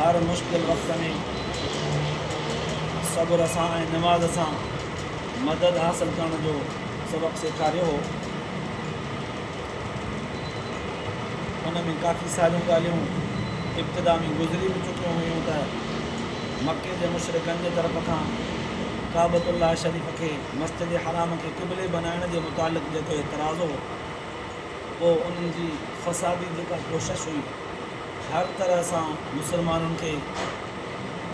هر مشڪل وقت ۾ صبر سان ۽ نماز سان مدد حاصل ڪرڻ جو سبق سيکاريو هو ان ۾ ڪافي ساريون ڳالهيون ابتدا ۾ گذري به چڪيون هيون ته مڪي جي مشرقن جي طرف کان ڪابت الله شريف کي مسجد حرام کي قبلي بنائڻ جي متعلق جيڪو اعتراض هو پوء انهن جي فسادي جيڪا ڪوشش هئي هر طرح سان مسلمانن کي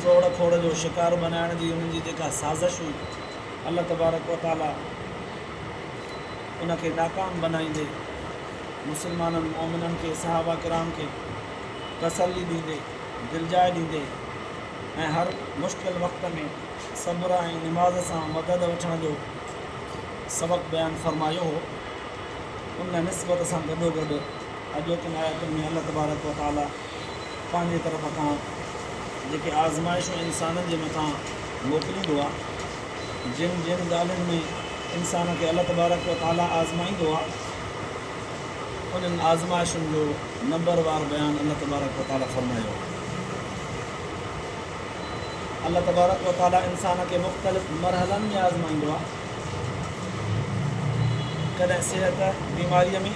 ٽوڙ ڦوڙ جو شڪار بنائڻ جي انهن جي جيڪا سازش هئي الله تبارڪ و تعاليٰ ان کي ناڪام بنائيندي مسلمانن مؤمنن کي صحابه ڪرام کي تسلي ڏيندي دلجاء ڏيندي ۽ هر مشڪل وقت ۾ صبر ۽ نماز سان مدد وٺڻ جو سبق بيان فرمايو هو ان نسبت سان گڏوگڏ اڄوڪين آيتن ۾ الله تبارڪ و تعاليٰ پنهنجي طرف کان جيڪي آزمائشون انسانن جي مٿان موڪليندو آهي، جن جن ڳالهين ۾ انسان کي الله تبارڪ و تعاليٰ آزمائيندو آهي، انهن آزمائشن جو نمبروار بيان الله تبارڪ و تعاليٰ فرمايو آهي. الله تبارڪ و تعاليٰ انسان کي مختلف مرحلن ۾ آزمائيندو آهي. ڪڏهن صحت بيماريء ۾،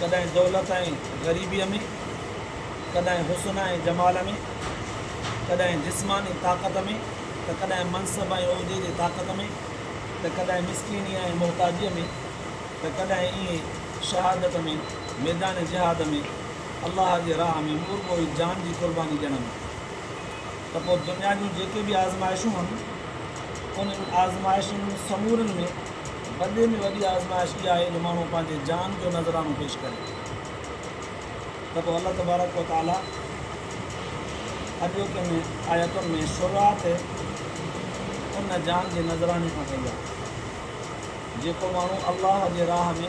ڪڏهن دولت ۽ غريبيء ۾، ڪڏهن حسن ۽ جمال ۾، ڪڏهن جسماني طاقت ۾ ته ڪڏهن منصب ۽ عهدي جي طاقت ۾ ته ڪڏهن مسڪينيء ۽ محتاجيء ۾ ته ڪڏهن ائين شهادت ۾ ميدان جهاد ۾، الله جي راهه ۾ مورڳو ئي جان جي قرباني ڏيڻ ۾. ته پوء دنيا جون جيڪي به آزمائشون هن، انهن آزمائشن سمورين ۾ وڏي ۾ وڏي آزمائش اها آهي جو ماڻهو پنهنجي جان جو نذرانو پيش ڪري ته پوء الله تبارڪ و تعاليٰ اڄوڪين ۾ آيتن ۾ شروعات ان جان جي نذراني کان ڪئي آهي جيڪو ماڻهو الله جي راهه ۾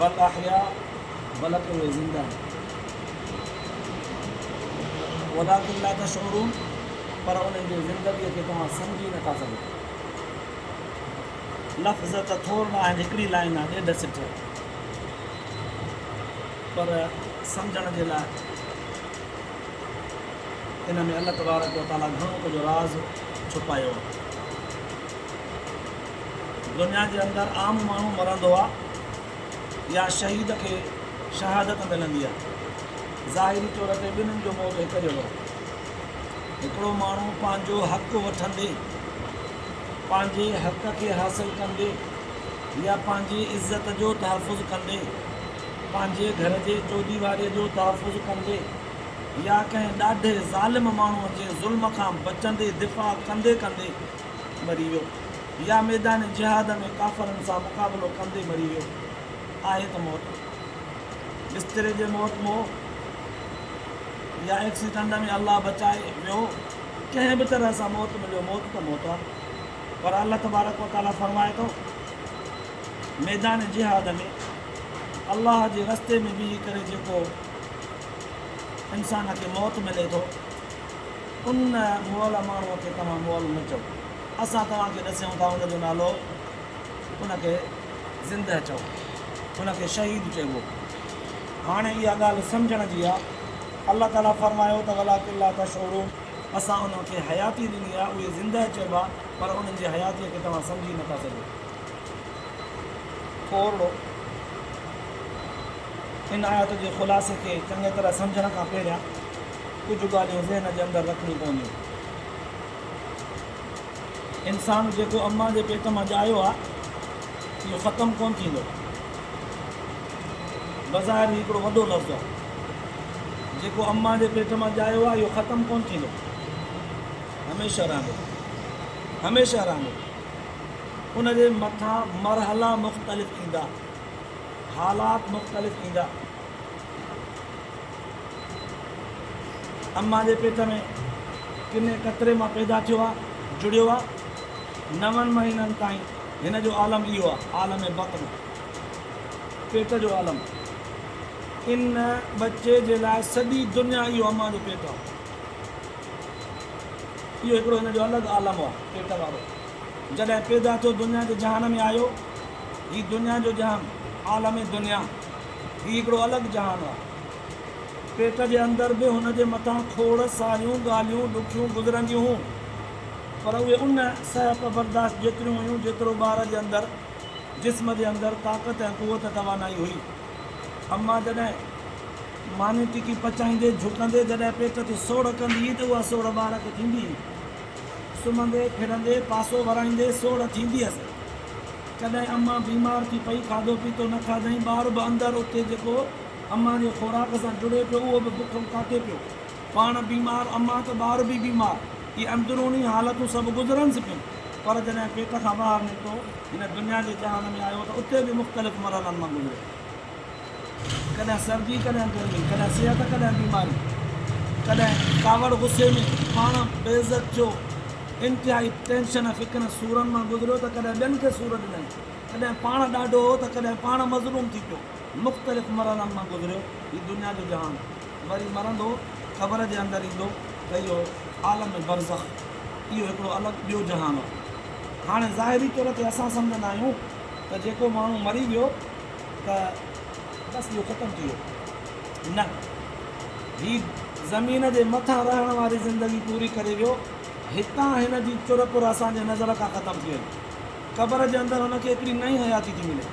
بل احيا بل ته اهي زنده آهن ولڪن لا تشعرون پر انهن جي زندگيء کي توهان سمجهي نٿا سگهو لفظ ته ٿور نه آهن هڪڙي لائن آهي ڏيڍ سٽ پر سمجھڻ جي لاء ان ۾ الله تبارڪ وتعاليٰ گھڻو ڪجھه راز ڇپايو آهي دنيا جي اندر عام ماڻهو مرندو آ يا شهيد کي شهادت ملندي آ ظاهري طور تي ٻنهن جو موت هڪ جهڙو هڪڙو ماڻهو پنهنجو حق وٺندي پنهنجي حق کي حاصل ڪندي يا پنهنجي عزت جو تحفظ ڪندي پنهنجي گهر جي چوديواري جو تحفظ ڪندي يا ڪنهن ڏاڍي ظالم ماڻهو جي ظلم کان بچندي دفاع ڪندي ڪندي مري ويو يا ميدان جهاد ۾ ڪافرن سان مقابلو ڪندي مري ويو آهي ته موت بستري جي موت مئو يا ايڪسيڊنٽ ۾ الله بچائي ويو ڪنهن به طرح سان موت مليو موت ته موت آهي پر الله تبارڪ وتعاليٰ فرمائي ٿو ميدان جهاد ۾ الله جي رستي ۾ بيهي ڪري جيڪو انسان کي موت ملي ٿو ان مئل ماڻهوء کي توهان مئل نه چئو. اسان توهان کي ڏسيون ٿا ان جو نالو ان کي زندهه چئو. ان کي شهيد چئبو. هاڻي اها ڳالهه سمجهڻ جي آهي. الله تعاليٰ فرمايو ته ولٰڪن لا تشعرون اسان انهن کي حياتي ڏني آهي اهي زندهه چئبا پر انهن جي حياتيء کي توهان سمجهي نه ٿا سگهو. ڪورڙو، ان آيت جي خلاصي کي چڱيء طرح سمجهڻ کان پهريان ڪجهه ڳالهيون ذهن جي اندر رکڻيون پونديون. انسان جيڪو امان جي پيٽ مان ڄايو آ اهو ختم ڪونه ٿيندو. بظاهر هي هڪڙو وڏو لفظ آ. جيڪو امان جي پيٽ مان ڄايو آ اهو ختم ڪونه ٿيندو. هميشه رهندو. هميشه رهندو. ان جي مٿان مرحلا مختلف ايندا. حالات مختلف ايندا. امان جي پيٽ ۾ ڪني قطري مان پيدا ٿيو آ، جڙيو آ. نون مهينن تائين هن جو عالم اهو آ، عالم بطن، پيٽ جو عالم. ان ٻچي جي لاء سڄي دنيا اهو امان جو پيٽ آ. اهو هڪڙو هن جو الڳ عالم آ، پيٽ وارو. جڏهن پيدا ٿيو دنيا جي جهان ۾ آيو. هي دنيا جو جهان، عالم دنيا. هي هڪڙو الڳ جهان هو. پيٽ جي اندر به هن جي مٿان کوڙ ساريون ڳالهيون ڏکيون گذرنديون هيون، پر اهي ان سهپ برداشت جيتريون هيون، جيترو ٻار جي اندر، جسم جي اندر طاقت ۽ قوت توانائي هئي. اما جڏهن ماني ٽڪي پچائيندي، جهڪندي جڏهن پيٽ تي سوڙهه ڪندي هئي ته اها سوڙهه ٻار کي ٿيندي هئي. سمهندي کڙندي پاسو ورائيندي سوڙهه ٿيندي هيس. ڪڏهن امان بيمار ٿي پئي، کاڌو پيتو نه کاڌائين، ٻار به اندر اتي جيڪو امان جي خوراڪ سان جڙي پيو اهو به بک ڪاٽي پيو. پاڻ بيمار امان ته ٻار به بيمار اهي اندروني حالتون سڀ گذرنس پيون پر جڏهن پيٽ کان ٻاهر نڪتو هن دنيا جي جهان ۾ آيو ته اتي به مختلف مرحلن مان گذريو. ڪڏهن سردي ڪڏهن گرمي، ڪڏهن صحت ڪڏهن بيماري، ڪڏهن ڪاوڙ غصي ۾ پاڻ بي عزت ٿيو، انتهائي ٽينشن فڪرن سورن مان گذريو ته ڪڏهن ٻين کي سور ڏنائين، ڪڏهن پاڻ ڏاڍو هو ته ڪڏهن پاڻ مظلوم ٿي پيو، مختلف مرحلن مان گذريو هي دنيا جو جهان، وري مرندو قبر جي اندر ايندو ته اهو عالم برزخ، اهو هڪڙو الڳ ٻيو جهان هو. هاڻي ظاهري طور تي اسان سمجهندا آهيون ته جيڪو ماڻهو مري ويو، ته بس اهو ختم ٿي ويو. نه، هي زمين جي مٿان رهڻ واري زندگي پوري ڪري ويو. هتان هن جي چر پر اسان جي نظر کان ختم ٿي وئي. قبر جي اندر هن کي هڪڙي نئين حياتي ٿي ملي.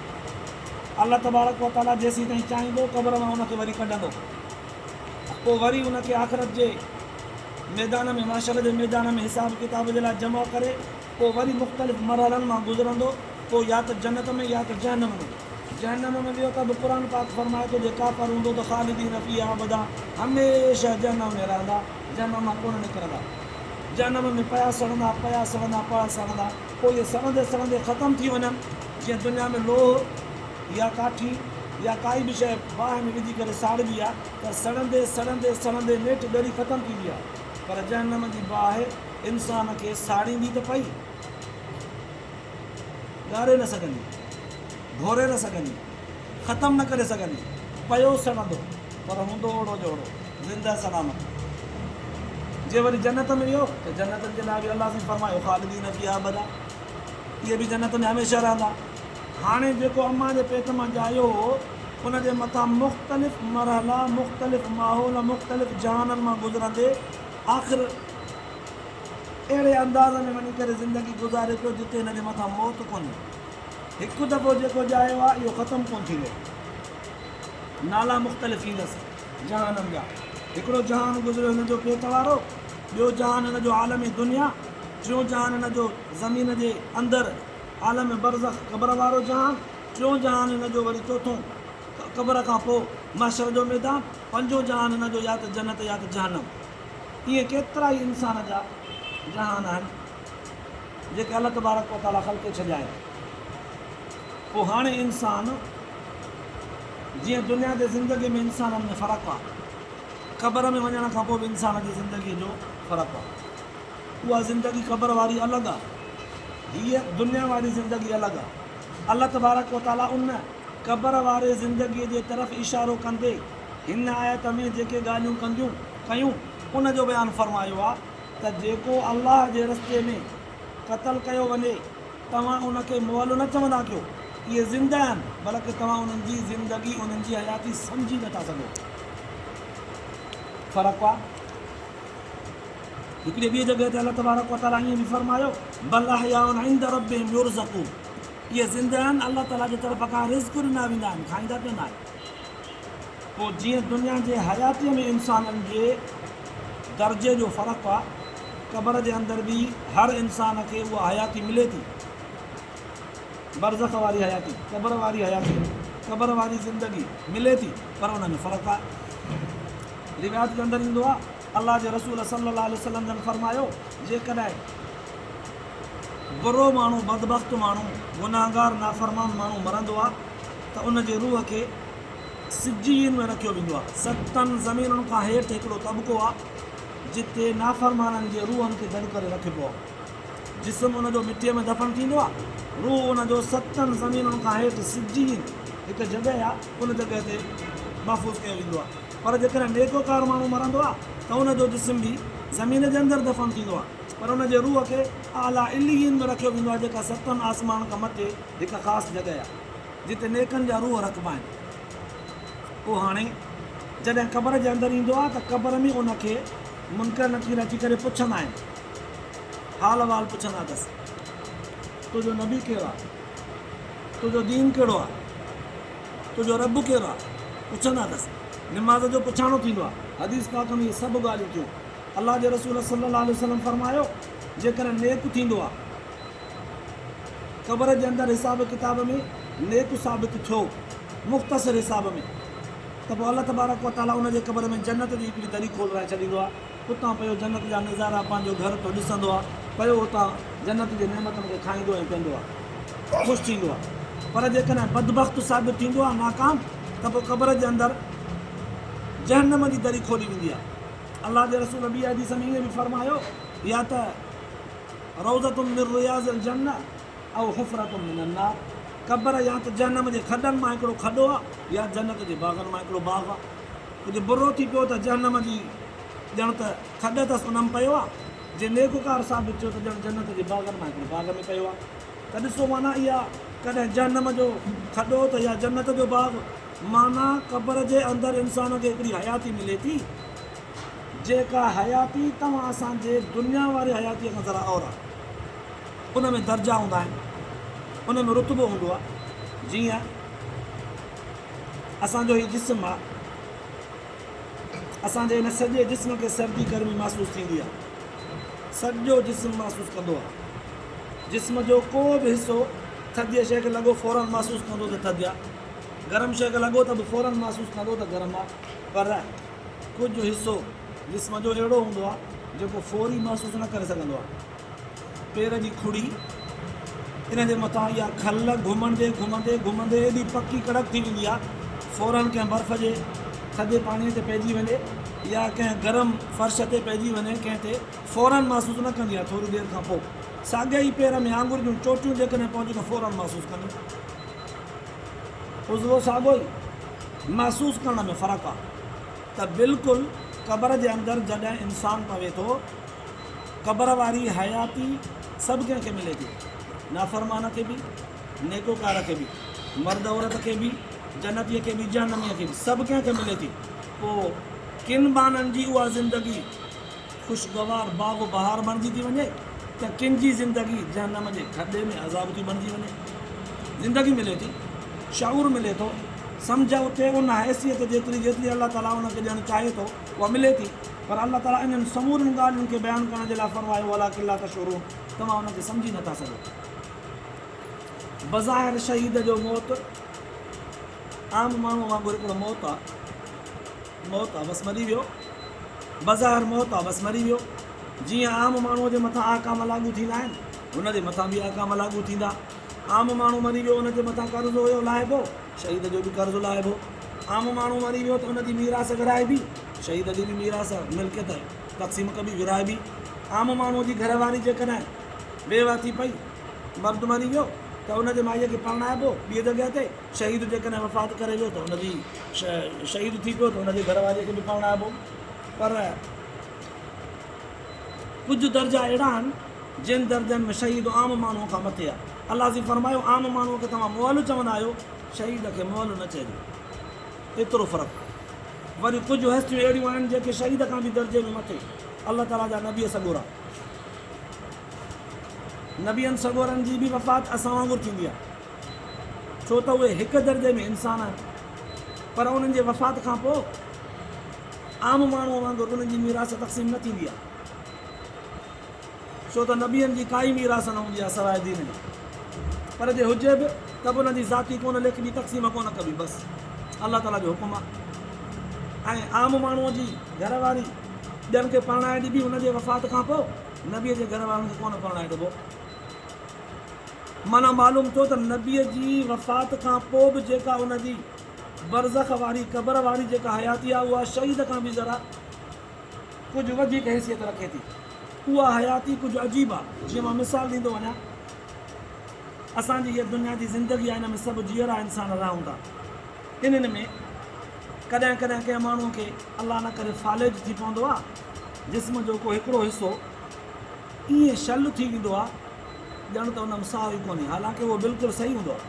الله تبارڪ و تعاليٰ جيسين تائين چاهيندو قبر مان هن کي وري ڪڍندو. پوء وري هن کي آخرت جي ميدان ۾ محشر جي ميدان ۾ حساب ڪتاب جي لاء جمع ڪري پوء وري مختلف مرحلن مان گذرندو پوء يا ته جنت ۾ يا ته جهنم ۾. جهنم ۾ ويو ته به قرآن پاڪ فرمائي ٿو جي ڪافر هوندو ته خالدين فيها ابدا هميشه جهنم ۾ رهندا جهنم مان ڪونه نڪرندا. جهنم ۾ پيا سڙندا پيا سڙندا پيا سڙندا پوء اهي سڙندي سڙندي ختم ٿي وڃن جيئن دنيا ۾ لوهه يا ڪاٺي يا ڪائي به شيء باهه ۾ وجهي ڪري ساڙبي آهي ته سڙندي سڙندي سڙندي نيٺ ڳري ختم ٿيندي آهي پر جهنم جي باهه انسان کي ساڙيندي ته پئي، ڳاري نه سگهندي، گهوري نه سگهندي، ختم نه ڪري سگهندي، پيو سڙندو پر هوندو اوڙو جو اوڙو زنده سلامت. جي وري جنت ۾ ويو ته جنتن جي لاء به الله سائين فرمايو خالدين فيها ابدا اهي به جنت ۾ هميشه رهندا. هاڻي جيڪو امان جي پيٽ مان ڄايو هو ان جي مٿان مختلف مرحلا، مختلف ماحول، مختلف جهانن مان گذرندي، آخر اهڙي انداز ۾ وڃي ڪري زندگي گذاري پيو جتي هن جي مٿان موت ڪونهي. هڪ دفعو جيڪو ڄائيو آهي اهو ختم ڪونه ٿيندو. نالا مختلف ٿيندس جهانن جا. هڪڙو جهان گذريو هن جو پيٽ وارو، ٻيو جهان هن جو عالم دنيا، ٽيون جهان هن جو زمين جي اندر عالم برزخ قبر وارو جهان، چئون جهان هن جو وري چوٿون قبر کان پوء محشر جو ميدان. پنجون جهان هن جو يا ته جنت يا ته جهنم. ائين ڪيترائي انسان جا جهان آهن جيڪي الله تبارڪ و تعاليٰ خلقي ڇڏيا آهن. پوء هاڻي انسان جيئن دنيا تي زندگي ۾ انسانن ۾ فرق آ. قبر ۾ وڃڻ کان پوء به انسان جي زندگي جو فرق آ. اها زندگي قبر واري الڳ آ. هيء دنيا واري زندگي الڳ آ. الله تبارڪ و تعاليٰ ان. قبر واري زندگيء جي طرف اشارو ڪندي هن آيت ۾ جيڪي ڳالهيون ڪنديون ڪيون ان جو بيان فرمايو آهي ته جيڪو الله جي رستي ۾ قتل ڪيو وڃي توهان ان کي مئل نه چوندا ڪيو اهي زنده آهن بلڪ توهان انهن جي زندگي انهن جي حياتي سمجهي نه ٿا سگهو فرق آهي هڪڙي ٻي جڳهه تي الله تبارڪ وتعاليٰ ائين به فرمايو بل احياء عند ربهم يرزقون اهي زنده آهن، الله تعاليٰ جي طرف کان رزق ڏنا ويندا آهن، کائيندا پيئندا آهن. پوء جيئن دنيا جي حياتيء ۾ انسانن جي درجي جو فرق آهي، قبر جي اندر به هر انسان کي اها حياتي ملي ٿي، برزخ واري حياتي، قبر واري حياتي، قبر واري زندگي، ملي ٿي، پر ان ۾ فرق آهي. روايت جي اندر ايندو آهي، الله جي رسول صلّي اللّٰه عليه وسلّم جن فرمايو، جيڪڏهن. برو ماڻهو، بدبخت ماڻهو، گنهگار نافرمان ماڻهو مرندو آ ته ان جي روح کي سجيين ۾ رکيو ويندو آ. ستن زمينن کان هيٺ هڪڙو طبقو آ جتي نافرمانن جي روحن کي گڏ ڪري رکبو آ. جسم ان جو مٽيء ۾ دفن ٿيندو آ، روح ان جو ستن زمينن کان هيٺ سجيين هڪ جڳهه آ ان جڳهه تي محفوظ ڪيو ويندو آ. پر جيڪڏهن نيڪوڪار ماڻهو مرندو آ ته ان جو جسم به زمين جي اندر دفن ٿيندو آ. پر ان جي روح کي اعليٰ عليين ۾ رکيو ويندو آهي، جيڪا ستن آسمانن کان مٿي هڪ خاص جڳهه آهي، جتي نيڪن جا روح رکبا آهن. پوء هاڻي جڏهن قبر جي اندر ايندو آهي ته قبر ۾ ان کي منڪر نڪير اچي ڪري پڇندا آهن، حال احوال پڇندا اٿس، تنهنجو نبي ڪير آهي؟ تنهنجو دين ڪهڙو آهي؟ تنهنجو رب ڪير آهي؟ پڇندا اٿس. نماز جو پڇاڻو ٿيندو آهي. حديث پاڪ ۾ اهي سڀ ڳالهيون ٿيون. الله جي رسول صلّي الله عليه وسلّم فرمايو، جيڪڏهن نيڪ ٿيندو آ قبر جي اندر حساب ڪتاب ۾ نيڪ ثابت ٿيو مختصر حساب ۾ ته پوء الله تبارڪ و تعالٰي ان جي قبر ۾ جنت جي هڪڙي دري کولرائي ڇڏيندو آ اتان پيو جنت جا نظارا پنهنجو گهر ٿو ڏسندو آ پيو اتان جنت جي نعمتن کي کائيندو ۽ پيئندو آ خوش ٿيندو آ پر جيڪڏهن بدبخت ثابت ٿيندو آ ناڪام ته پوء قبر جي اندر جهنم جي دري کولي ويندي آ. الله جي رسول ٻي حديث ۾ ائين به فرمايو يا ته روضة من رياض الجنة او حفرة من النار قبر يا ته جهنم جي کڏن مان هڪڙو کڏو آ يا جنت جي باغن مان هڪڙو باغ آ ڪجهه برو ٿي پيو ته جهنم جي ڄڻ ته کڏ اٿس ان ۾ پيو آ جي نيڪوڪار ثابت ٿيو ته ڄڻ جنت جي باغن مان هڪڙي باغ ۾ پيو آ ته ڏسو معنيٰ اها ڪڏهن جهنم جو کڏو ته يا جنت جو باغ معنيٰ قبر جي اندر انسان کي هڪڙي حياتي ملي ٿي، جيڪا حياتي توهان اسان جي دنيا واري حياتيء کان ذرا اور آهي. ان ۾ درجا هوندا آهن، ان ۾ رتبو هوندو آهي. جيئن اسان جو هي جسم آهي، اسان جي هن سڄي جسم کي سردي گرمي محسوس ٿيندي آهي. سڄو جسم محسوس ڪندو آهي. جسم جو ڪو به حصو ٿڌيء شيء کي لڳو فوراً محسوس ڪندو ته ٿڌ آهي. گرم شيء کي لڳو ته به فوراً محسوس ڪندو ته گرم آهي پر ڪجهه حصو جسم جو اهڙو هوندو آهي جيڪو فوري محسوس نه ڪري سگهندو آهي. پير جي کڙي، ان جي مٿان اها کل گهمندي گهمندي گهمندي ايڏي پڪي ڪڙڪ ٿي ويندي آهي فوراً ڪنهن برف جي ٿڌي پاڻيء تي پئجي وڃي يا ڪنهن گرم فرش تي پئجي وڃي ڪنهن تي فوراً محسوس نه ڪندي آهي ٿوري دير کانپوء ساڳئي پير ۾ آڱر جون چوٽيون جيڪڏهن پونديون ته فوراً محسوس ڪنديون. عضوو ساڳيو ئي محسوس ڪرڻ ۾ فرق آ ته بلڪل قبر جي اندر جڏهن انسان پوي ٿو قبر واري حياتي سڀ ڪنهن کي ملي ٿي نافرمان کي به نيڪوڪار کي به مرد عورت کي به جنتي کي به جهنمي کي به سڀ ڪنهن کي ملي ٿي پو ڪن بانن جي اها زندگي خوشگوار باغ بهار بڻجي ٿي وڃي ته ڪن جي زندگي جهنم جي کڏي ۾ عذاب ٿي بڻجي وڃي. زندگي ملي ٿي، شعور ملي ٿو، سمجهه اٿي ان حيثيت جيتري جيتري الله تعاليٰ ان کي ڏيڻ چاهي ٿو اها ملي ٿي پر الله تعاليٰ انهن سمورين ڳالهين کي بيان ڪرڻ جي لاء فرمايو ولٰڪن لا تشعرون توهان ان کي سمجهي نه ٿا سگهو. بظاهر شهيد جو موت عام ماڻهو وانگر هڪڙو موت آهي. موت عبث مري ويو، بظاهر موت عبث مري ويو، جيئن عام ماڻهوء جي مٿان احڪام لاڳو ٿيندا آهن، هن جي مٿان به احڪام لاڳو ٿيندا. عام ماڻهو مري ويو، ان جي مٿان قرض هيو لاهبو، شهيد جو به قرض لاهبو. عام ماڻهو مري ويو ته ان جي ميراث ورهائبي، شهيد جي به ميراث، ملڪيت، تقسيم ڪبي، ورهائبي. عام ماڻهوء جي گهر واري جيڪڏهن بيوه ٿي پئي، مرد مري ويو، ته ان جي مائيء کي پرڻائبو ٻيء جڳهه تي. شهيد جيڪڏهن وفات ڪري ويو ته ان جي شهيد ٿي پيو ته ان جي گهر واريء کي به پرڻائبو پر ڪجهه درجا اهڙا آهن جن درجن ۾ شهيد عام ماڻهوء کان مٿي آهي الله سين فرمايو عام ماڻهوء کي توهان مئل چوندا آهيو شهيد کي مئل نه چئجو ايترو فرق وري ڪجهه هستيون اهڙيون آهن جيڪي شهيد کان به درجي ۾ مٿي الله تعاليٰ جا نبي سڳورا نبين سڳورن جي به وفات اسان وانگر ٿيندي آهي ڇو ته اهي هڪ درجي ۾ انسان آهن پر انهن جي وفات کان پوء عام ماڻهوء وانگر انهن جي ميراث تقسيم نه ٿيندي آهي ڇو ته نبين جي ڪائي ميراث نه هوندي آهي سواء دين جي پر جي هجي به ته به انهن جي ذاتي ڪونه ليکبي تقسيم ڪونه ڪبي بس الله تعاليٰ جو حڪم آهي ۽ عام ماڻهوء جي گهر واري ٻين کي پرڻائي ڏبي انهن جي وفات کان پوء نبيء جي گهر وارن کي ڪونه پرڻائي ڏبو معنيٰ معلوم ٿيو ته نبيء جي وفات کان پوء به جيڪا ان جي برزخ واري، قبر واري، جيڪا حياتي آهي اها شهيد کان به ذرا ڪجهه وڌيڪ حيثيت رکي ٿي. اها حياتي ڪجهه عجيب آهي. جيئن مان مثال ڏيندو وڃان، اسان جي هيء دنيا جي زندگي آهي ان ۾ سڀ جيئرا انسان رهون ٿا. انهن ۾ ڪڏهن ڪڏهن ڪنهن ماڻهوء کي الله نه ڪري فالج ٿي پوندو آهي، جسم جو ڪو هڪڙو حصو، ائين شل ٿي ويندو آ ڄڻ ته ان م ساهه ئي ڪونهي حالانڪه اهو بلڪل صحيح هوندو آ.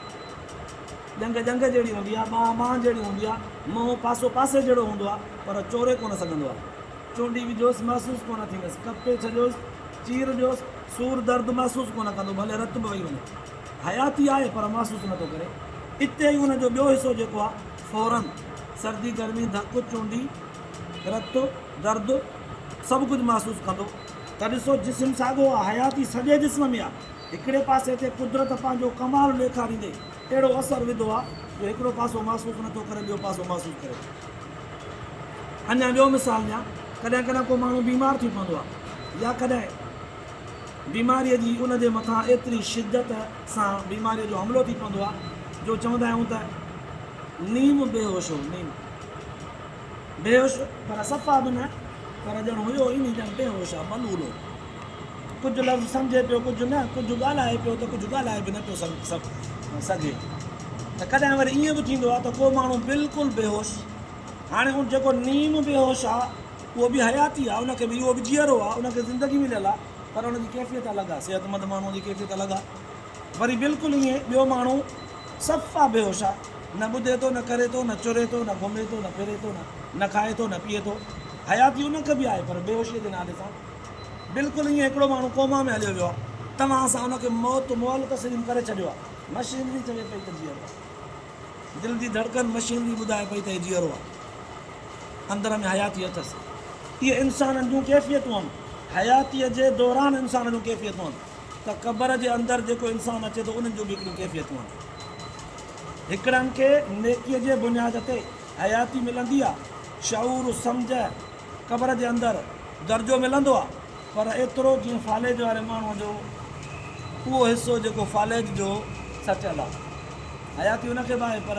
ڄنگهه ڄنگهه جهڙي هوندي آ، ٻانهه ٻانهه جهڙي هوندي آ، منهن پاسو پاسي جهڙو هوندو آ پر چوري ڪونه سگهندو آ. چونڊي وجهوس محسوس ڪونه ٿيندس، ڪپي ڇڏيوس، چير ڏيوس، سور درد محسوس ڪونه ڪندو ڀلي رت به وهي وڃي. حياتي آهي پر محسوس نٿو ڪري. اتي ئي ان جو ٻيو حصو جيڪو آ فورن سردي گرمي ڌڪ چونڊي رت درد سڀ ڪجهه محسوس ڪندو. ته ڏسو جسم ساڳو آ، حياتي سڄي جسم ۾ آ، هڪڙي پاسي تي قدرت پنهنجو ڪمال ڏيکاريندي اهڙو اثر وڌو آ جو هڪڙو پاسو معشوق نٿو ڪري ٻيو پاسو معشوق ڪري ٿو. اڃا ٻيو مثال ڏيان، ڪڏهن ڪڏهن ڪو ماڻهو بيمار ٿي پوندو آ يا ڪڏهن بيماريء جي ان جي مٿان ايتري شدت سان بيماريء جو حملو ٿي پوندو آ جو چوندا آهيون ته نيم بيهوش هو، نيم. به هيس، پر صفا به نه، پر ڄڻ هيو ئي ني ڄڻ ٽيهون شاهه بلولو. ڪجهه لفظ سمجهي پيو ڪجهه نه، ڪجهه ڳالهائي پيو ته ڪجهه ڳالهائي به نه پيو سگهي ته ڪڏهن وري ائين به ٿيندو آ ته ڪو ماڻهو بلڪل بيهوش، هاڻي ان جيڪو نيم بيهوش آ اهو به حياتي آ، ان کي به اهو به جيئرو آ، ان کي زندگي مليل آ، پر ان جي ڪيفيت الڳ آ، صحتمند ماڻهوء جي ڪيفيت الڳ آ. وري بلڪل ائين ٻيو ماڻهو صفا بيهوش آ، نه ٻڌي ٿو، نه ڪري ٿو، نه چري ٿو، نه گهمي ٿو، نه ڦري ٿو، نه کائي ٿو، نه پيئي ٿو. حياتي ان کي به آهي پر بيهوشيء جي نالي سان. بلڪل ائين هڪڙو ماڻهو ڪوما ۾ هليو ويو آ. توهان اسان ان کي موت مئل تسليم ڪري ڇڏيو آ. مشينري چوي پئي ته جيئرو آ. دل جي ڌڙڪن مشينري ٻڌائي پئي ته هي جيئرو آ. اندر ۾ حياتي اٿس. اهي انسانن جون ڪيفيتون هن. حياتيء جي دوران انسان جون ڪيفيتون هن. ته قبر جي اندر جيڪو انسان اچي ٿو انهن جون به هڪڙيون ڪيفيتون آهن. هڪڙن کي نيڪيء جي بنياد تي حياتي ملندي آهي، شعور، سمجهه، قبر جي اندر درجو ملندو آهي پر ايترو جيئن فالج واري ماڻهوء جو اهو حصو جيڪو فالج جو سچل آهي. حياتي ان کي به آهي پر.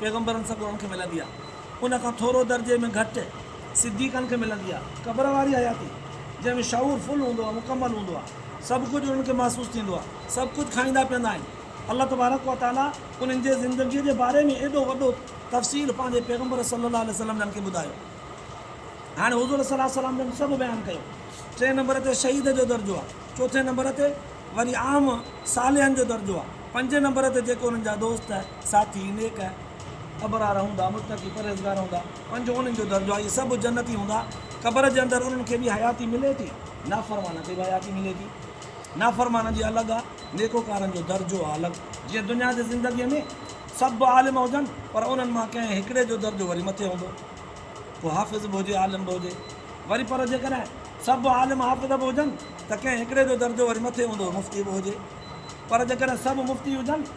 پيغمبرن سگهو ان کي ملندي آهي. ان کان ٿورو درجي ۾ گهٽ صديقن کي ملندي آهي. قبر واري حياتي، جنهن ۾ شعور فل هوندو آهي، مڪمل هوندو آهي. سڀ ڪجهه انهن کي محسوس ٿيندو آهي. سڀ ڪجهه کائيندا پيئندا آهن. الله تبارڪ و تعاليٰ انهن جي زندگيء جي باري ۾ ايڏو وڏو تفصيل پنهنجي پيغمبر صلّي اللّٰه عليه وسلّم جن کي ٻڌايو. هاڻي حضور صلّي اللّٰه عليه وسلّم جن سڀ بيان ڪيو. ٽئين نمبر تي شهيد جو درجو آهي. چوٿين نمبر تي وري عام صالحن جو درجو آهي. پنجين نمبر تي جيڪي انهن جا دوست. ساٿي نيڪ ابرار هوندا، متقي پرهيزگار هوندا، پنج انهن جو درجو آهي، سڀ جنتي هوندا، قبر جي اندر انهن کي به حياتي ملي ٿي، نافرمانن کي به حياتي ملي ٿي، نافرمانن جي الڳ آ، نيڪوڪارن جو درجو آ الڳ، جيئن دنيا جي زندگيء ۾ سڀ عالم هجن پر انهن مان ڪنهن هڪڙي جو درجو وري مٿي هوندو، ڪو حافظ به هجي عالم به هجي، وري پر جيڪڏهن سڀ عالم حافظ به هجن ته ڪنهن هڪڙي جو درجو وري مٿي هوندو مفتي به هجي، پر جيڪڏهن سڀ مفتي هجن.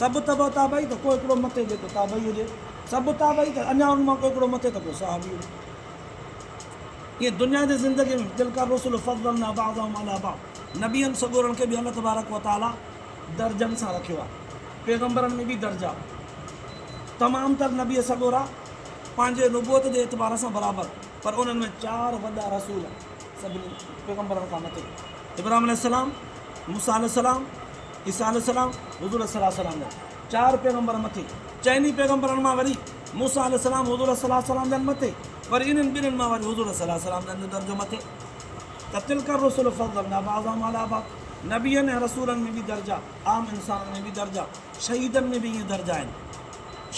سڀ تبع تابعي ته ڪو هڪڙو مٿي جيڪو تابعي هجي، سڀ تابعي ته اڃا ان مان ڪو هڪڙو مٿي ته ڪو صحابي هجي. ايئن دنيا جي زندگي ۾ تلک الرسل فضلنا بعضهم علي بعض نبين سڳورن کي به الله تبارڪ و تعاليٰ درجن سان رکيو آهي. پيغمبرن ۾ به درجا تمام تر نبي سڳورا پنهنجي نبوت جي اعتبار سان برابر پر انهن ۾ چار وڏا رسول سڀني پيغمبرن کان مٿي ابراهيم عليه السلام، موسيٰ عليه السلام، عيسيٰ عليه السلام، حضور صلّي الله عليه وسلّم جن چار پيغمبرن مٿي، چئني پيغمبرن مان وري موسيٰ عليه السلام، حضور صلّي الله عليه وسلّم جن مٿي، وري انهن ٻنهن مان وري حضور صلّي الله عليه وسلّم جن جو درجو مٿي ته تلک الرسل فضّلنا بعضهم عليٰ بعض نبين ۽ رسولن ۾ به درجا، عام انسانن ۾ به درجا، شهيدن ۾ به ائين درجا آهن،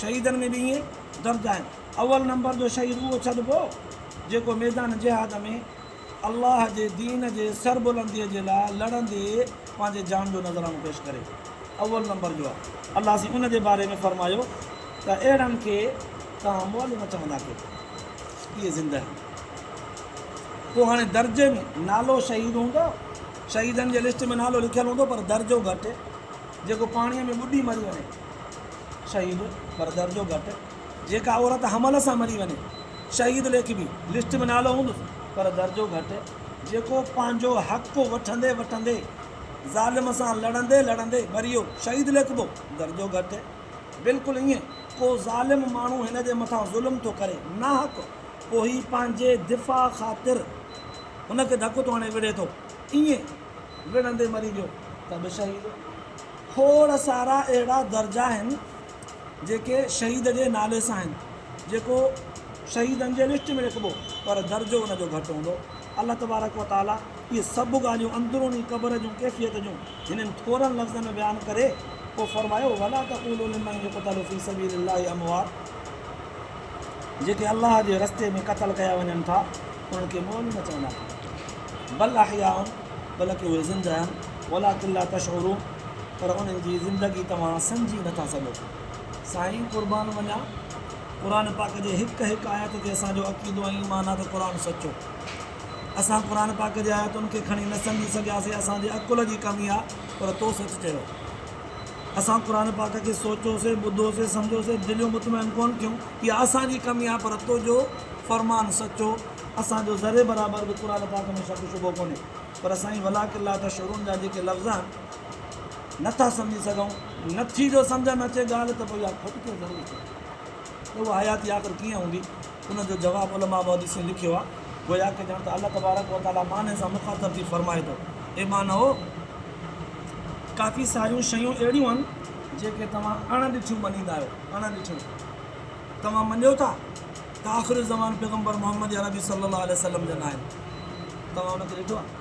شهيدن ۾ به ائين درجا آهن، اول نمبر جو شهيد اهو ڇڏبو جيڪو ميدان جهاد ۾. الله جي دين جي سربلنديء جي لاء لڙندي پنهنجي جان جو نذرانو پيش ڪري اول نمبر جو آهي. الله سين ان جي باري ۾ فرمايو ته اهڙن کي توهان مؤلو نه چوندا ڪيو اهي زنده آهن. پوء هاڻي درجي ۾ نالو شهيد هوندو، شهيدن جي لسٽ ۾ نالو لکيل هوندو پر درجو گهٽ، جيڪو پاڻيء ۾ ٻڏي مري وڃي شهيد پر درجو گهٽ. جيڪا عورت حمل سان مري وڃي. شهيد ليکبي لسٽ ۾ نالو هوندس پر درجو گهٽ جيڪو پنهنجو حق وٺندي وٺندي ظالم سان لڙندي لڙندي مريو شهيد ليکبو درجو گهٽ بلڪل ائين ڪو ظالم ماڻهو هن جي مٿان ظلم ٿو ڪري ناحق پوء هي پنهنجي دفاع خاطر هن کي ڌڪ ٿو هڻي وڙهي ٿو ائين وڙهندي مري ويو ته به شهيد کوڙ سارا اهڙا درجا آهن جيڪي شهيد جي نالي سان آهن جيڪو شهيدن جي لسٽ ۾ لکبو پر درجو ان جو گهٽ هوندو الله تبارڪ و تعالي اهي سڀ ڳالهيون اندروني قبر جون ڪيفيت جون هنن ٿورن لفظن ۾ بيان ڪري پوء فرمايو ولا تقولو لمن يقتل في سبيل الله اموات جيڪي الله جي رستي ۾ قتل ڪيا وڃن ٿا انهن کي مئل نه چوندا ڪيو بل احياء بلڪ اهي زنده آهن ولا قلا تشعرون پر انهن جي زندگي توهان سمجهي نٿا سگهو سائين قربان وڃان قرآن پاڪ جي هڪ هڪ آيت تي اسان جو عقيدو ۽ ايمان آ ته قرآن سچو اسان قرآن پاڪ جي آيتن کي کڻي نه سمجهي سگهياسي اسان جي عقل جي ڪمي آ پر تو سچ چيو اسان قرآن پاڪ کي سوچيو سي ٻڌو سي سمجهيو سي دليون مطمئن ڪون ٿيون اها اسان جي ڪمي آ پر تو جو فرمان سچو اسان جو ذري برابر به قرآن پاڪ ۾ شڪ شبهو ڪونهي پر سائين ولاڪن لا تشعرون جا جيڪي لفظ آهن نه ٿا سمجهي سگهون. نٿي جو سمجهه نه اچي ڳالهه ته پوء اها کوٽ ڪيئن ضرور ٿي ته اها حياتي آخر ڪيئن هوندي؟ ان جو جواب علماء محدثين لکيو آهي گويا ڪه ڄڻ ته الله تبارڪ و تعاليٰ معنيٰ سان مخاطب ٿي فرمائي ٿو، اي مانئو! ڪافي ساريون شيون اهڙيون آهن جيڪي توهان اڻ ڏٺيون مڃيندا آهيو، اڻ ڏٺيون توهان مڃيو ٿا ته آخرالزمان پيغمبر محمد عربي صلي الله عليه وسلم جا ناهن، توهان ان کي ڏٺو آهي؟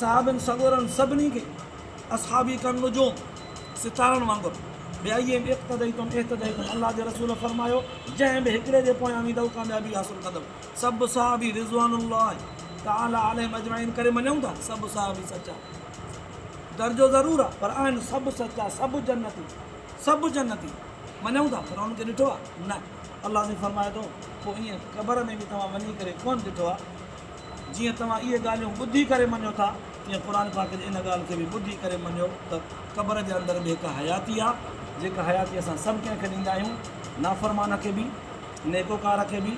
صاحبن سڳورن سڀني کي اصحابي ڪن نجوم، ستارن، وانگر ٻيائيم اقتديتم اهتديتم الله جي رسول فرمايو جنهن به هڪڙي جي پويان ويندؤ ڪاميابي حاصل ڪندؤ سڀ صحابي رضوان الله تعالي عليهم اجمعين ڪري مڃون ٿا سڀ صحابي سچا درجو ضرور آ پر آهن سڀ سچا سڀ جنتي سڀ جنتي مڃون ٿا پر انهن کي ڏٺو آ نه الله سائين فرمائي ٿو پوء ائين قبر ۾ به توهان وڃي ڪري ڪونه ڏٺو آ جيئن توهان اهي ڳالهيون ٻڌي ڪري مڃيو ٿا، تيئن قرآن پاڪ جي ان ڳالهه کي به ٻڌي ڪري مڃيو ته قبر جي اندر به هڪ حياتي آهي، جيڪا حياتي اسان سڀ ڪنهن کي ڏيندا آهيون، نافرمان کي به، نيڪوڪار کي به،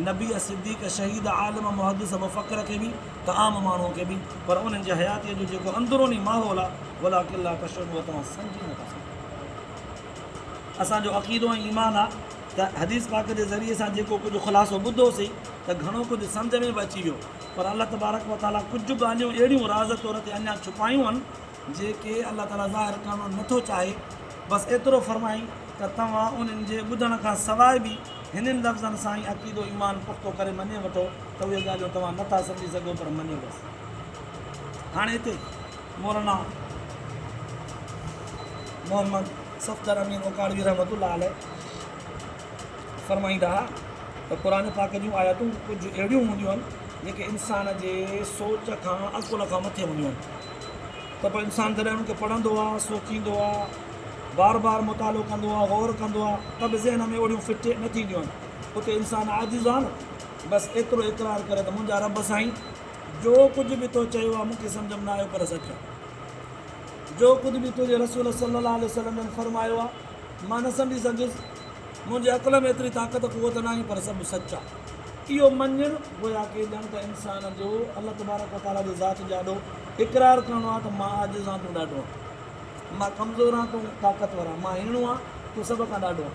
نبي، صديق، شهيد، عالم، محدث، مفڪر کي به ته عام ماڻهوء کي به، پر انهن جي حياتيء جو جيڪو اندروني ماحول آهي، ولٰڪن لا تشعرون اها توهان سمجهي نه ٿا سگهو. اسان جو عقيدو ۽ ايمان آهي. ته حديث پاڪ جي ذريعي سان جيڪو ڪجهه خلاصو ٻڌو سين ته گهڻو ڪجهه سمجهه ۾ به اچي ويو پر الله تبارڪ و تعالي ڪجهه ڳالهيون اهڙيون راز طور تي اڃا ڇپايون هن جيڪي الله تعالي ظاهر ڪرڻو نه ٿو چاهي بس ايترو فرمائين ته توهان انهن جي ٻڌڻ کان سواء به هنن لفظن سان ئي عقيدو ايمان پختو ڪري مڃي وٺو ته اهي ڳالهيون توهان نه ٿا سمجهي سگهو پر مڃيو بس هاڻي هتي مولانا محمد صفدر امين اوڪاڙوي رحمة الله عليه فرمائيندا ها ته قرآن پاڪ جون آيتون ڪجهه اهڙيون هونديون آهن جيڪي انسان جي سوچ کان عقل کان مٿي هونديون آهن ته پوء انسان جڏهن انهن کي پڙهندو آهي سوچيندو آهي بار بار مطالعو ڪندو آهي غور ڪندو آهي ته به ذهن ۾ اهڙيون فٽ نه ٿينديون آهن اتي انسان عاجز آهي نه بس ايترو اقرار ڪري ته منهنجا رب سائين جو ڪجهه به تو چيو آهي مون کي سمجھ ۾ نه آيو پر سچ آهي جو ڪجهه به تنهنجي رسول صلي الله عليه وسلم جن فرمايو آهي مان نه سمجهي سگهيس. منهنجي عقل ۾ ايتري طاقت قوت ناهي پر سڀ سچ آ. اهو مڃڻ گويا ڪي ڄڻ ته انسان جو الله تبارڪ و تعاليٰ جي ذات جي آڏو اقرار ڪرڻو آ ته مان عاجز آن تون ڏاڍو آن. مان ڪمزور آن تون طاقتور آن. مان هيڻو آن تون سڀ کان ڏاڍو آن.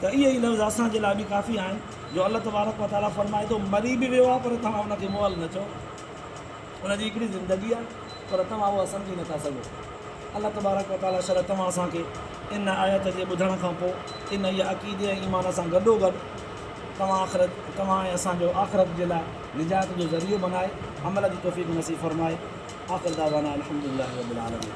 ته اهي ئي لفظ اسان جي لاء به ڪافي آهن جو الله تبارڪ و تعاليٰ فرمائي ٿو مري به ويو آ پر توهان ان کي مئل نه چئو. ان جي هڪڙي زندگي آهي پر توهان اهو سمجهي نٿا سگهو. الله تبارڪ و تعاليٰ شل توهان اسان کي ان آيت جي ٻڌڻ کان پوء انهيء عقيدي ۽ ايمان سان گڏوگڏ توهان آخرت توهان ۽ اسان جو آخرت جي لاء نجات جو ذريعو بنائي عمل جي توفيق نصيب فرمائي. آخر دعوانا الحمدلله رب العالمين.